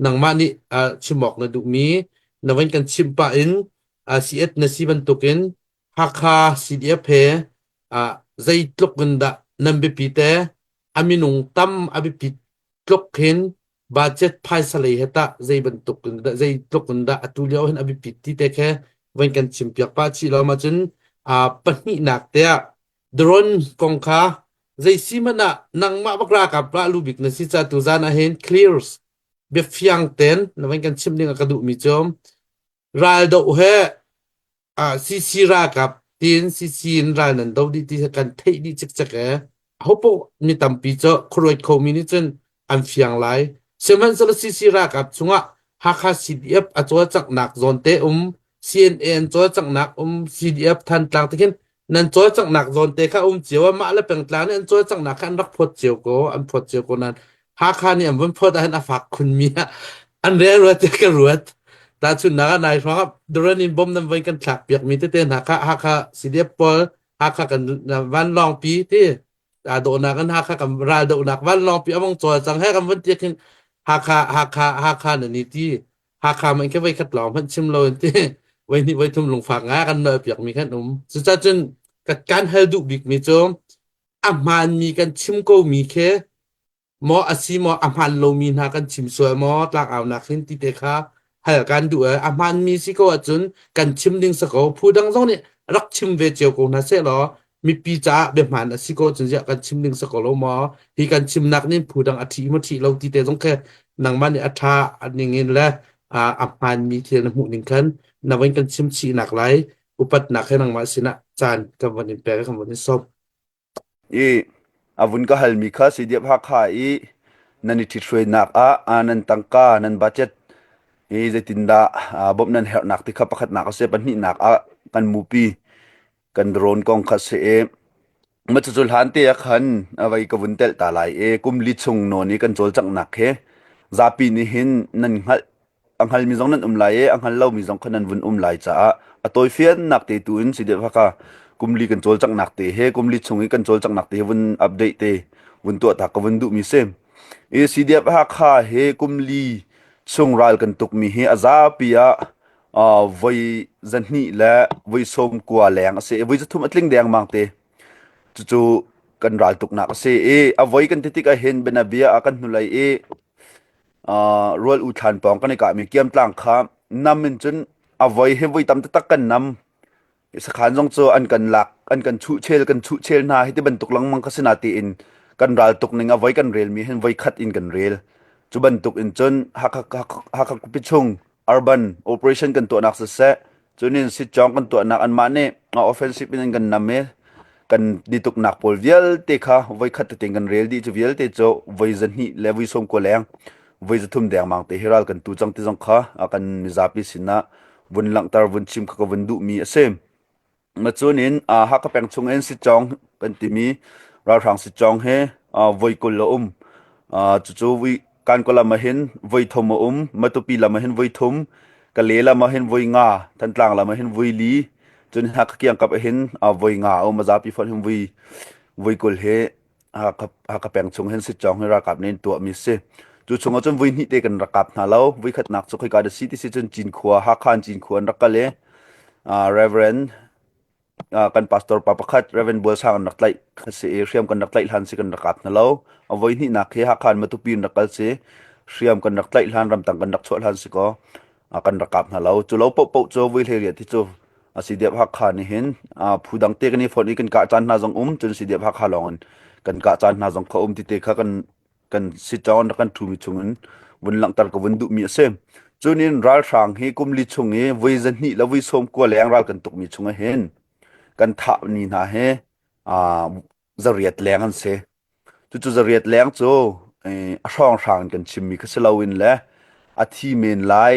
nangmah nih chim awk na duhmi na van kan chimh pah in CF na si bantukin Hakha CDF he zeitluk in dah nan biapi te a minung tam a biapi tluk hin budget phaisa lei he tah zei bantuk in dah zeitluk in dah atu lio hin a biapi ti te khe van kan chim piak pah chih lo ma cun pahnihnak te ah Daron kong kha zeisi hmanh ah nangmah bak ralkap rah lu bik na si ca tuzan ah hin clears biafiang ten na van kan chim ding a ka duhmi cu raldoh he ah CC ralkap tin CC in ral nan do dih ti kan theih dih cikcek e. Hopoh mi tampi cu khuaruat khomi nih cun an fiang lai. Sihmanhsehlaw CC ralkap chungah Hakha CDF a cawlcanghnak zawn te um, CNA an cawlcanghnak um, CDF Thantlang te khin nan cawlcanghnak zawn te kha um cio a mah le pengtlang nih an cawlcanghnak kha an rak phawt cio ko, an phawt cio ko nan Hakha nih an van phawt ahhin a fak khunmi ah an relruat te ka ruat. Tahchunnak ah nai hrawng ah Duran in bom nan voi kan thlak piakmi tete hna kha Hakha CDF pawl Hakha kan vanlawngpi ti aa dawhnak in Hakha kan raldohnak vanlawngpi a vong cawl cang he kan vun tiak hin Hakha Hakha Hakha na ni ti Hakha man ke voi khat lawng hmanh chim lo in ti voi hnih voi thum lungfak nga kan nawl piak mi kan um cucah cun kan kan hal duh bik mi cu a hmaan mi kan chim ko mi khi Maw a si maw a hmaan lomi hna kan chim sual maw tlangaunak hin ti te kha hal kan duh eh. A hmaanmi si ko ahcun kan chim ding sa ko phu dang zong nih rak chim ve cio ko hna seh law mipi caah biahmaan a si ko cun ziah kan chim ding sa ko lo maw hi kan chimnak nin phu dang a ṭhi maw ṭhi lo ti te zong khe nangmah nih a ṭha a ning in le a a hmaanmi thil na hmuh ning khan na van kan chim chih nak lai upatnak he nangmah sinah caan kan van in pek kan van in sawm. I a vun ka halmi kha Seidiap Hakha i nan i ṭhithruainak ah nan tangka nan budget i zeitindah bawmh nan herhnak ti kha pakhatnak a si pahnihnak ah kan mupi kan drone kong kha a si i macu hlan te ah khan a vei ka vun telh ta lai i kum li chung nawn i kan cawlcanghnak hi zapi nih hin nan hngalh a hngalmi zong nan um lai i a hngal lomi zong kha nan vun um lai caah a tawifiannak te tu in si deuh haka kumli kan cawlcanghnak te he kumli chung i kan cawlcanghnak te he vun update te vun tuah ta ka vun duh mi si i CDF Hakha he kumli chung ral kan tukmi hi a zapi ah uh, voi zahni le voi som kua leng a si voi zathum a tling deng mang te cucu kan ral tuknak a si i a voi kan tetik a hin benabia a kan hnulei i rual u thlan pawng kan i kahmi kiamtlang kha nam in cun a voi hi voi tam taktak kan nam sakhan zong cu an kan lak an kan chuhchel kan chuhchel hna hi ti bantuk lengmang ka sina tiin kan ral tuk ning a voi kan rel mi hin voi khat in kan rel cu bantuk in cun hakak hakak pichung Urban operation kan tuahnak siseh, cunin sitcawng kan tuahnak anmah nih offensive in an kan nam i kan dituknak pawl vialte kha voikhat te kan rel dih cu vialte cu voi zahnih le voi sawm kua leng voi zathum dengmang te hi ral kan tu cang ti zong kha kan mizapi sinah vun langhter vun chim kha ka vun duhmi a si. Macun in uh, Hakha peng chungin Sitcong kan timi ralhrang Sitcong he uh, voi kul a um. Uh, cucu vi kanko lam ahin voi thum a um, Matupi lam ahin voi thum, Kale lam ahin voi nga, Thantlang lam ahin voi li, cun Hakha kiang kap ahin uh, voi nga a um, mazapi phon hin voi voi kul he Hakha peng chung hin sitcawng hi ralkap nih an tuahmi si. Cu chung ah cun vui hnih te kan rak kap hna lo. Vui khatnak cu khoika da si ti si cun Cinkhua, Hakha in Cinkhua an rak kal i Reverend kan pastor pa pakhat Reverend Bual Sang an rak tlaih kha si i hriam kan rak tlaih hlan si kan rak kap hna lo. A voi hnihnak hi Hakha in Matupi in rak kal si hriam kan rak tlaih hlan ramtang kan rak chuah hlan si ko. a kan rak kap hna lo cu lo pohpoh cu vui hlei riat hi cu a si diap hakha nih hin phu dang te kan i phone i kan kah caan hna zong um cun si diap hakha lawng in kan kah caan hna zong kha um ti te kha kan kan si chong rak kan thumi chung in vun langtar ka vun duh mi a si cun in ralhrang hi kumli chung i voi zahnih le voi som kua leng ral kan tuk mi chung hin kan thah ni hna he a Zariat leng an si. Cucu zariat leng cu a hrawnghrang in kan chimmi kha si loin le a thi men lai,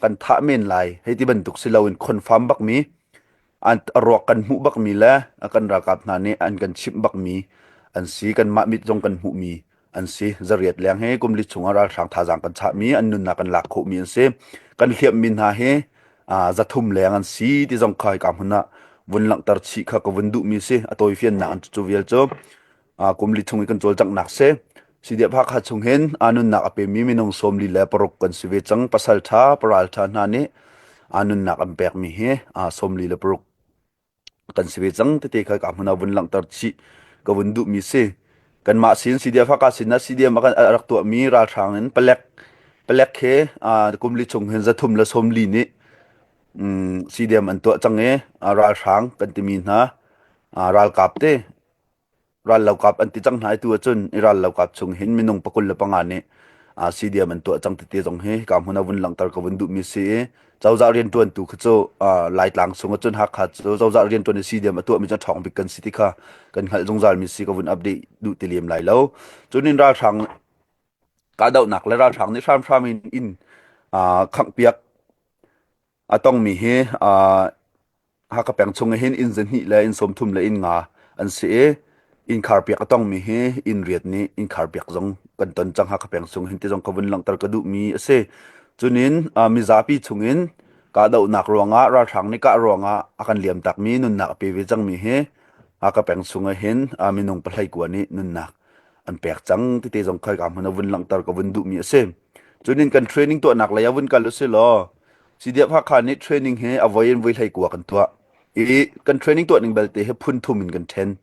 kan thah men lai hei ti bantuk si loin confirm bakmi, a ruak kan hmuh bakmi le kan ralkap hna nih an kan chimh bakmi an si. Kanmah mit zong kan hmuhmi an si zariat leng hi kumli chungah ralhrang thazaang kan chahmi an nunnak kan lak khawhmi an si kan hliammi hna hi zathum leng an si ti zong kha hika hmun ah vun langhter chih kha ka vun duhmi si a tawifiannak an cu vial cu kumli chung i kan cawlcanghnak se sidia phakha chung hin anunnak a pemi minung somli le paruk kan si ve cang pasal tha paral tha hna nih anunnak an pekmi hi somli le paruk kan si ve cang tete kha ka hmun ah vun langhter chih ka vun duh mi si kanmah sin CDF haka sin na CDM a kan rak tuah mi ralhrang in palek palek he kum li chung hin zathum la som li nih CDM an tuah cang i ralhrang kan timi hna ralkap te rallokap an ti cang hna tu ahcun i rallokap chung hin minung pakul le panga nih CDM an tuah cang titi zong hi ka hmun a vun langhter ka vun duh mi si i cozah riantuan tu kha cu laitlang sung ahcun hakha cu cozah riantuan i CDM a tuah mi cu thawng bik kan si ti kha kan hngalh zungzal mi si ka vun update duh ti lem lai lo cun in ralhrang kahdohnak le ralhrang nih hramhram in in khangh piak a tongmi hi Hakha peng chung ah hin inn zahnih le inn sawmthum le inn nga an si i innkhar piak a tongmi hi inn riat nih innkhar piak zong kan ton cang Hakha peng chung hin ti zong ka vun langhter ka duhmi a si. Cunin mizapi chung in kahdohnak ruangah ralhrang nih kah ruangah a kan liamtakmi nunnak a pe ve cangmi hi Hakha peng chung ah hin minung pahleikua nih nunnak an pek cang titi zong khoi ka hmun a vun langhter ka vun duhmi a si. Cunin kan training tuahnak lei ah vun kal u si law CDF Hakha nih training hi a voi in voi hlei kua kan tuah i kan training tuah ning belte hi phun thum in kan then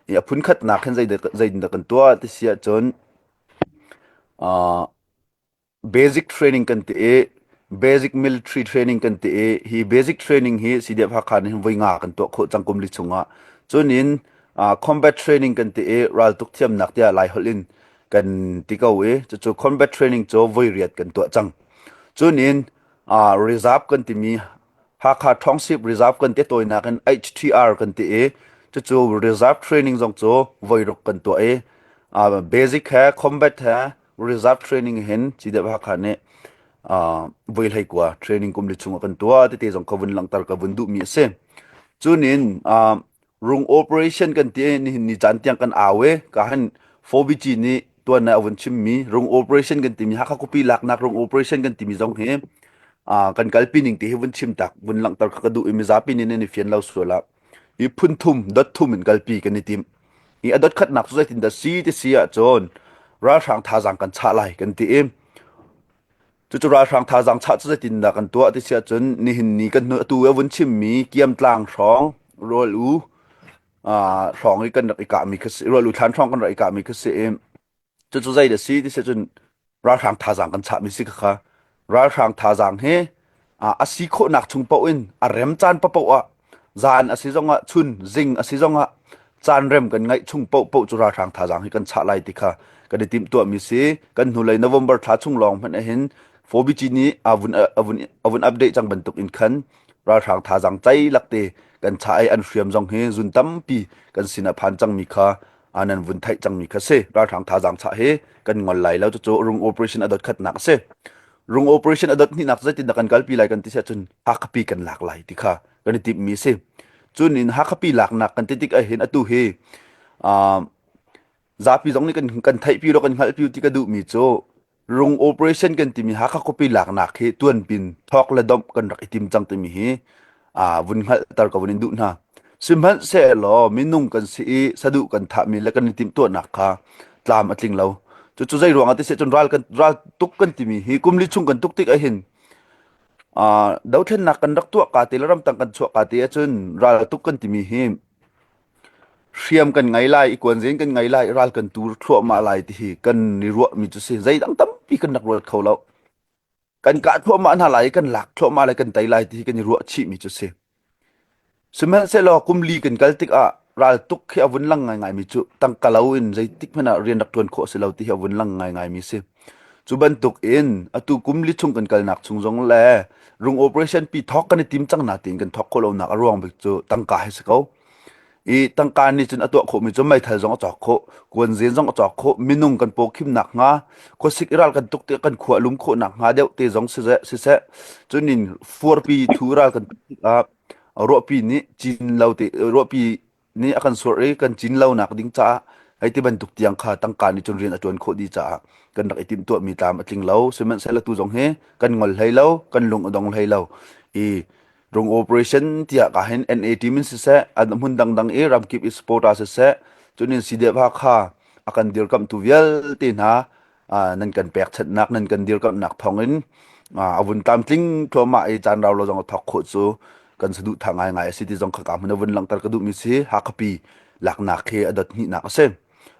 i a phun khatnak hin zeitindah kan tuah ti si ahcun uh, basic training kan ti i basic military training kan ti i hi basic training hi CDF Hakha nih voi nga kan tuah khawh cangkum li chungah cunin uh, combat training kan ti i raltuk thiamnak tiah lai holh in kan ti ko i cucu combat training cu voi riat kan tuah cang Cunin Reserve kan timi Hakha Ṭhangsip Reserve kan ti tawinak in HTR kan ti i cucu reserve training zong cu voiruk kan tuah i basic he combat he reserve training hin CDF Hakha nih voi hlei kua training kum li chung ah kan tuah tete zong ka vun langhter ka vun duhmi a si. Cunin Rung operation kan ti nihin ni caan tiang kan au e ka han Fovici nih tuan a vun chimmi rung operation kan timi Hakha Kupi laknak rung operation kan timi zong hi kan kalpi ning ti hi vun chim tak vun langhter kha ka duh i mizapi nih nan i fian lo sual a i phun thum dot thum in kalpi kan i tim i a dot khatnak cu zeitin dah si ti si ahcun ralhrang thazang kan chah lai kan ti i Cucu ralhrang thazaang chah cu zeitindah kan tuah ti si ahcun nihin ni kan hnu atu a vun chimmi Kiamtlang hrawng rual u hrawng i kan rak i kahmi kha si rual u thlan hrawng kan rak i kahmi kha si i cucu zei da si ti si ahcun ralhrang thazaang kan chahmi si kha ralhrang thazaang hi a si khawhnak chung paoh in a rem caan paoh ah Zaan a si zongah, chun zing a si zongah caanrem kan ngaih chung paohpaoh cu ralhrang thazaang hi kan chah lai ti kha kan i timhtuahmi si. Kan hnulei November thla chung lawng hmanh ahhin 4BG nih a vun, a vun, a vun update cang bantuk in khan ralhrang thazaang cai lakte kan chah i an hriam zong hi zun tampi kan sin a phan cangmi kha anan vun theih cangmi kha si. Ralhrang thazaang chah hi kan ngol lai lo. Cucu a rung operation a dotkhatnak a si. Rung operation adat hninak zeitindah kan kalpi lai kan ti se cun Hakhapi kan lak lai ti kha kan i timhmi si. Cun in Hakhapi laknak kan ti tik ahhin atu hi uh, zapi zong nih kan, kan theihpi ro kan hngalhpi ti ka duhmi cu Rung operation kan timi Hakha khupi laknak hi tuan pin thawk le domh kan rak i tim cang timi hi aa vun hngalhter ko in duh hna sihmanhsehlaw minung kan si i saduh kan thahmi le kan i timhtuahnak kha tlam a tling lo cucu zei ruangah ti seh cun ral kan ral tuk kan timi hi kumli chung kan tuk tik ahhin dothlennak kan rak tuah ka ti le ramtang kan chuah ka ti ahcun ral tuk kan timi hi hriam kan ngai lai i kuanzin kan ngai lai ral kan tur thluahmah lai ti hi kan ni ruahmi cu si zeidang tampi kan rak ruat kho lo kan kah thluahmah hna lai i kan lak thluahmah lai kan tei lai ti kan i ruah chihmi cu si sihmanhsehlaw kumli kan kal tikah raltuk khi a vun lang ngaingaimi cu tangkalo in zeitik hmanh ah rian rak ṭuan khawh si lo ti hi a vun lang ngaingaimi si cu bantuk in atu kumli chung kan kalnak chung zong le rung operation pi thawk kan i tim cang na tiin kan thawk khawh lonak a ruang bik cu tangka hi si ko i tangka nih cun a tuah khawhmi cu meithal zong a cawk khawh kuanzen zong a cawk khawh minung kan pawkhimnak hnga khuasik i ral kan tuk ti kan khua lum khawhnak hnga deuh te zong siseh siseh cun in fuarpi thu ral kan tuk ruahpi nih cin lo te ruahpi nih a kan suarh i kan cin lonak ding caah hei ti bantuk tiang kha tangka nih cun rian a tuan khawh dih caah kan rak i timh tuahmi tlam a tling lo sihmanhsehlaw tu zong hi kan ngol hlei lo kan lung a dong hlei lo i Tung operation tiah ka hin NAT min siseh an hmun dangdang i ramkip i support ah siseh cunin sideva kha akan dirkamh tu vialte hna nan kan pek chatnak nan kan dirkamhnak thawngin avun tlamtling thluahmah i canrau lo zong thok khawh cu kan saduh tha ngai ngai asi ti zong khaka mun avun langhter ka duh mi si hakapi laknak khi adot hihnak asi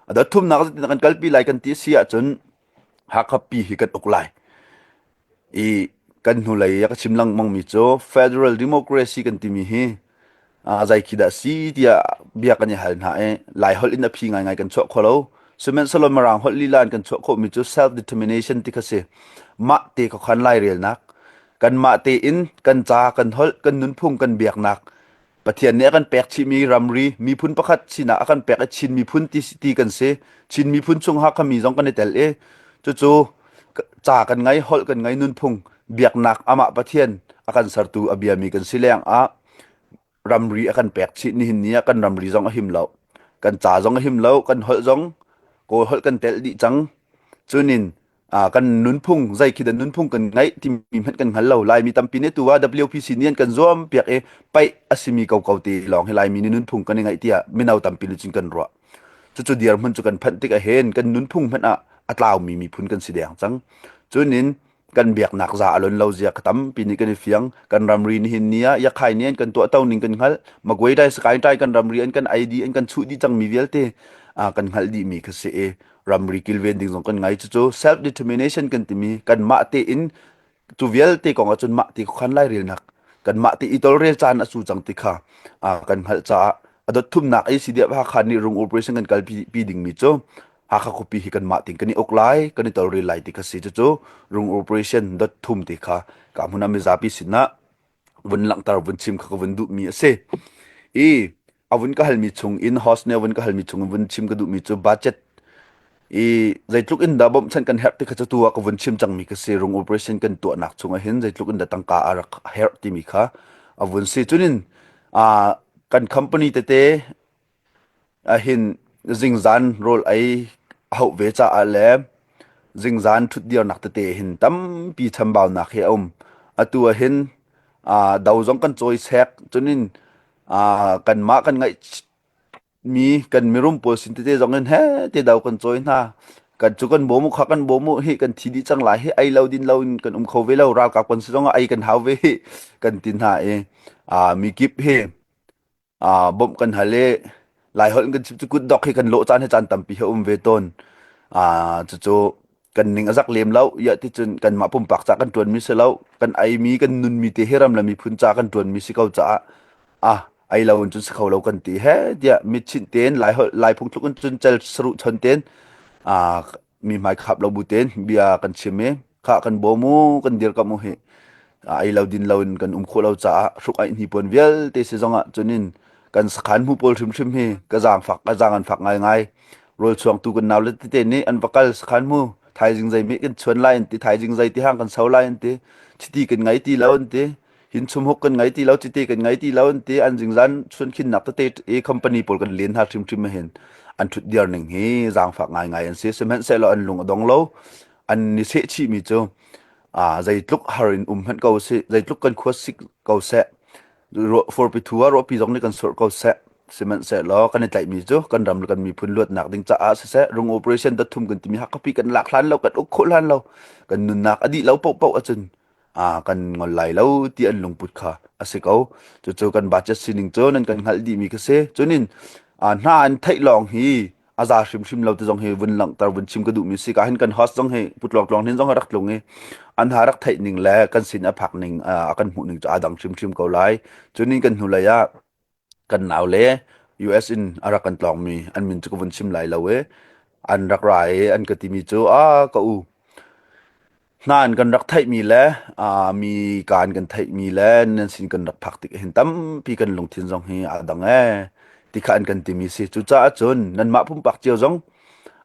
adot thumnak kan kalpi lai kan ti si ahcun hakapi hi kan uk lai I kan hnulei a ka chim lengmangmi cu Federal Democracy kan timi hi ah zeikhi dah si tiah bia kan i hal hna i Lai holh in a phi ngaingai kan chuah kho lo. Sihmanhsehlaw Mirang holh lila in kan chuah khawhmi cu self determination ti kha si. Mah te ka khan lai relnak, kanmah tein kan ca, kan holh, kan nunphung, kan biaknak Pathian nih a kan pek chihmi ramri miphun pakhat sinah a kan pek i Chin miphun ti, ti kan si. Chin miphun chung hakhami zong kan i tel i cucu ca kan ngei, holh kan ngei, nunphung biaknak amah Pathian a kan sertu a biami kan si lengah ramri a kan pek chih nihin ni ah kan ramri zong a him lo. Kan ca zong a him lo, kan holh zong Kawl holh kan tel dih cang. Cunin uh, kan nunphung zai khi dan nunphung kan ngai timi hmanh kan hngal lo lai mi tampi ne tu ah WPC nih kan zuam piak e pai asimi ko ko te long hi lai mi ni nunphung kan ngai tia minau tampi lu cin kan ro chu chu diar mun chu kan phan tik a hen kan nunphung hmanh a atlau mi mi phun kan si deng chang chunin kan biak nak za alon lo zia khatam pini kan fiang kan ramri ni hin nia ya khai nian kan to tau ning kan ngal magwai dai sky dai kan ramri an kan id an kan chu di chang mi vialte a kan ngal di mi kha se e ramri kilven ding zong kan ngai cucu self determination kan timi kan mah te in tu vialte kong ahcun mah te khan lai relnak kan mah te i tol rel caan asu cang ti kha kan hngalh caah adot thumnak i sidiap ha khan ni rung operation kan kal pi ding mi cu hakha khupi hi kan mah ting kan i ok lai kan i tol rel lai ti kha si cucu rung operation dot thum ti kha ka mun ami zapi sinna vun langhter vun chim kha ka vun duh mi a si i avun ka halmi chung in horse ne avun ka halmi chung in vun chim ka duh mi cu budget i zeitluk in dah bawmh chan kan herh ti kha cu tu ah ka vun chim cang mi ka si rung operation kan tuah nak chung ah hin zeitluk in dah tangka a rak herh ti mi kha avun si chunin a kan company tete Ahin zingzan rawl ei a hauh ve caah le zingzan ṭhutdirnak tete hin tampi chambaunak hi a um. Atu ahin aa do zong kan cawisek. Cunin aa kanmah kan ngaihmi kan mirum pawl sin tete zong in hete do kan cawi hna. Kan cu kan bawm u kha kan bawm u hi kan thi dih cang lai hi ei lo din loin kan um kho ve lo. Ralkap kan si zongah ei kan hau ve hi kan ti hna i aa mikip hi aa bawmh kan hal i Laiholh kan cu kutdok hi kan lawh caan he caan tampi he um ve tawn. Aa cucu kan ning a zak lem lo. Iah ticun kanmah pumpak ca kan ṭuanmi si lo, kan eimi, kan nunmi te hi ram le miphun ca kan ṭuanmi si ko caah ah ei lo in cun si kho lo kan ti he tiah mitchinh tein Laiholh Lai phungthluk in cun cel saruh chon tein aa mi hmai khap lo bu ten bia kan chim i kha kan bawm u kan dir kam u hi ai lo din lo in kan um khawh lo caah hruk ai ni pon vialte si zong ah chunin kan sakhan mu pawl hrim hrim hi ka zang fak ka zang an fak ngai ngai rol chuang tu kan naw le te te ni an vakal sakhan mu thaizing zai mi kan chuan lai an ti thaizing zai ti hang kan sau lai an ti chiti kan ngai ti lo an ti hin chum hok kan ngai ti lo chite kan ngai ti lo an te an jing zan chun khin nak tete e company pol kan len ha trim trim hen an thut diar ning hi zang fa ngai ngai an se semen se lo an lung adong lo an ni se chi mi chu a zai tluk harin um han ko se zai tluk kan khos sik ko se ro for pi thua ro pi jong ni kan sor ko se semen se lo kan tlai mi chu kan ram kan mi phun luat nak ding cha a se se rung operation da thum kan timi ha kapi kan lak hlan lo kan uk khul hlan lo kan nun nak adi lo po po achun aa kan ngol lai lo ti an lungput kha a si ko. Cucu kan budget sining cu nan kan hngalh dihmi kha si. Cunin aa hna an theih lawng hi a za hrimhrim lo ti zong hi vun langhter vun chim ka duhmi si. Ka hin kan host zong hi putlawk tlawng hin zong hi rak tlung i an ha rak theih ning le kan sin a phak ning a kan hmuh ning cu aa dang hrimhrim ko lai. Cunin kan hnu lei ah kan nau le US in a rak kan tlawngmi an min cu ka vun chim lai lo e an rak ra e an ka timi cu a ka u hna an kan rak theihmi le mi ka an kan theihmi le nan sin kan rak phak tik hin tampi kan lungthin zong hi a dang e ti kha an kan timi si cucaah cun nanmah pumpak cio zong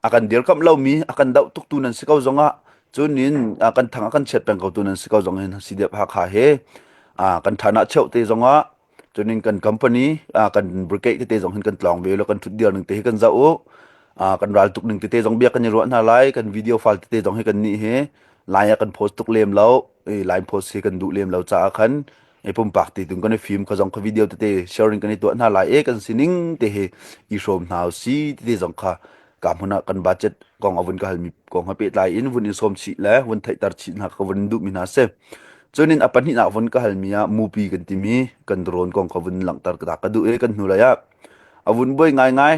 a kan dirkamh lomi a kan doh tuktu nan si ko zongah cun in kan thang a kan chiat peng ko tu nan si ko zong hin si dep hakha he kan thana cheuh te zongah Cunin kan company kan brigade tete zong hin kan tlawng ve lo kan thut dial ning te hi kan za u kan ral tuk ning tete zong bia kan i ruah hna lai kan video file tete zong hi kan nih hi line ah kan post tuk lem lo line post hi kan duh lem lo caah khan e pumpak ti tung kan i film kha zong kha video tete sharing kan i tuah hna lai e kan sining te hi i hrom hna si tete zong kha ka hmun ah kan budget kong avun ka hal mi kong ha pe tlai in vun in som chi le vun theih tar chi hna ka vun duh mi hna se Cunin a pahnihnak vun ka halmi ah mupi kan timi kan drone kong ka vun langhter ka ka duh i kan hnu lei ah a vun buai ngaingai.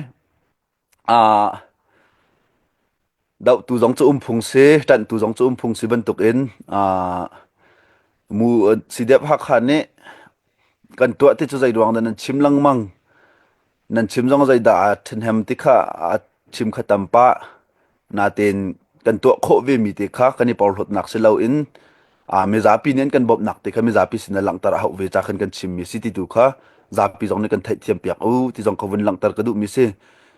Ah, dohtu zong cu umphung si, ṭanhtu zong cu umphung si bantukin ah mu si deuh Hakha nih kan tuah ti cu zeiruang dah nan chim lengmang. nan chim zong zeidah a ṭhahnem ti kha a chim kha tam pah. Natein kan tuah khawh vemi te kha kan i porhlawtnak si loin a mizapi nih an kan bawmhnak te kha mizapi sin ah langhter a hauh ve ca khan kan chimmi si ti tu kha zapi zong nih kan theihthiam piak u ti zong kha vun langhter ka duhmi si.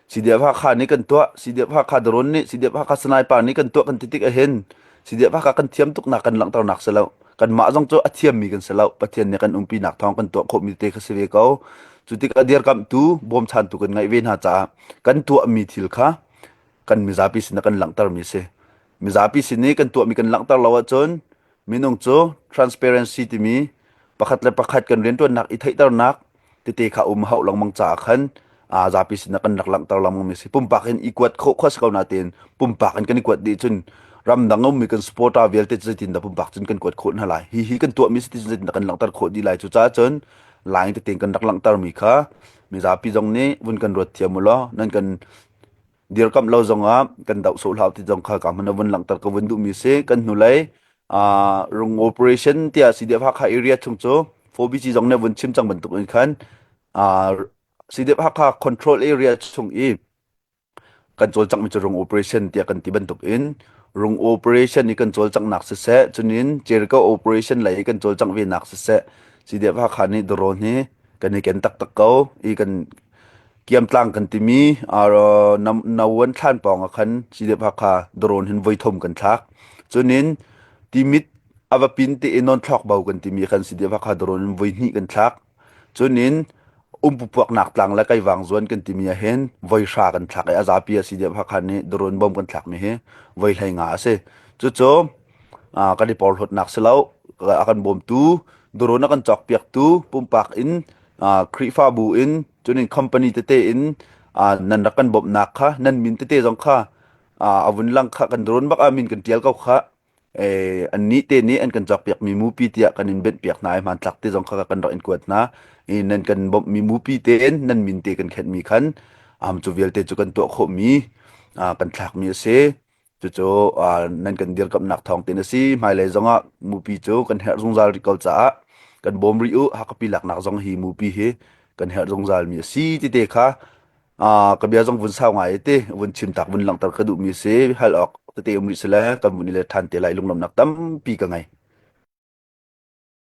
CDF Hakha nih kan tuah CDF Hakha Daron nih CDF Hakha Sanaipar nih kan tuah kan ti tik ahhin Sidia phaka kan thiam tuknak kan langhternak si lo. Kanmah zong cu a thiammi kan si lo. Pathian nih kan umpinak thawng kan tuah khawhmi te kha si ve ko. Cu tikah dirkamhtu bawmchantu kan ngeih ve hna caah kan tuahmi thil kha kan mizapi sin ah kan langhtermi si. Mizapi sin i kan tuahmi kan langhter lo ahcun minung cu transparency timi pakhat le pakhat kan riantuannak i theihternak tete kha um hauh lengmang caah khan a zapi sinah kan rak langhter lengmang mi si pumpak in i kuat khawh khua si ko natin pumpak in kan i kuat dih cun ramdang ummi kan support a vialte cu zeitin dah pumpak cun kan kuat khawh hna lai hi hi kan tuah mi si ti cun zeitin dah kan langhter khawh dih lai cu caah cun lai tete kan rak langhter mi kha mizapi zong nih vun kan ruat thiam u law nan kan dirkamh lo zongah kan doh sawh hlau ti zong kha ka hman a vun langter ka vun duhmi si kan hnulei rung operation tiah CDF Hakha area chung cu 4BG zong nih vun chim cang bantuk in khan CDF Hakha control area chung i kan cawl cangmi cu rung operation tiah kan ti bantuk in rung operation i kan cawl cangnak siseh cunin cerica operation lei i kan cawl cang venak siseh CDF Hakha nih drone hi kan i ken taktak ko i kan kiamtlang kan timi aro no an thlan pawng a khan chidep hakha doron hin voi thom kan thlak chunin timit avapin te enon thlok bau kan timi khan chidep hakha doron in voi hni kan thlak chunin umpupuak nak tlang la kai wang zuan kan timi a hen voi sha kan thlak e azapi a chidep hakha ni doron bom kan thlak mi hi voi hlai nga ase chu cho kan i porhlawtnak si lo. A kan bawmtu, durawn a kan cawkpiaktu, pumpak in Khrihfabu in cunin company tete in nan rak kan bawmhnak kha nan min tete zong kha a vun lang kha kan durawn bak ah min kan tial ko kha an nih te nih an kan cawkpiak mi mupi tiah kan in benhpiak hna i hmantlak te zong kha kan rak in kuat hna i nan kan bawmh mi mupi te in nan min te kan khenh mi khan cu vialte cu kan tuah khawh mi kan thlak mi a si Cucu uh, nan kan dirkamnak thawng tin a si. Hmailei zongah mupi cu kan herh zungzal rih ko caah kan bawm rih u hakapi laknak zong hi mupi hi kan herh zungzal mi a si ti te kha uh, ka bia zong vun sau ngai te vun chim tak vun langter ka duh mi si hal ok tete um rih sele kan mun le than te lai lunglam nak tampi ka ngai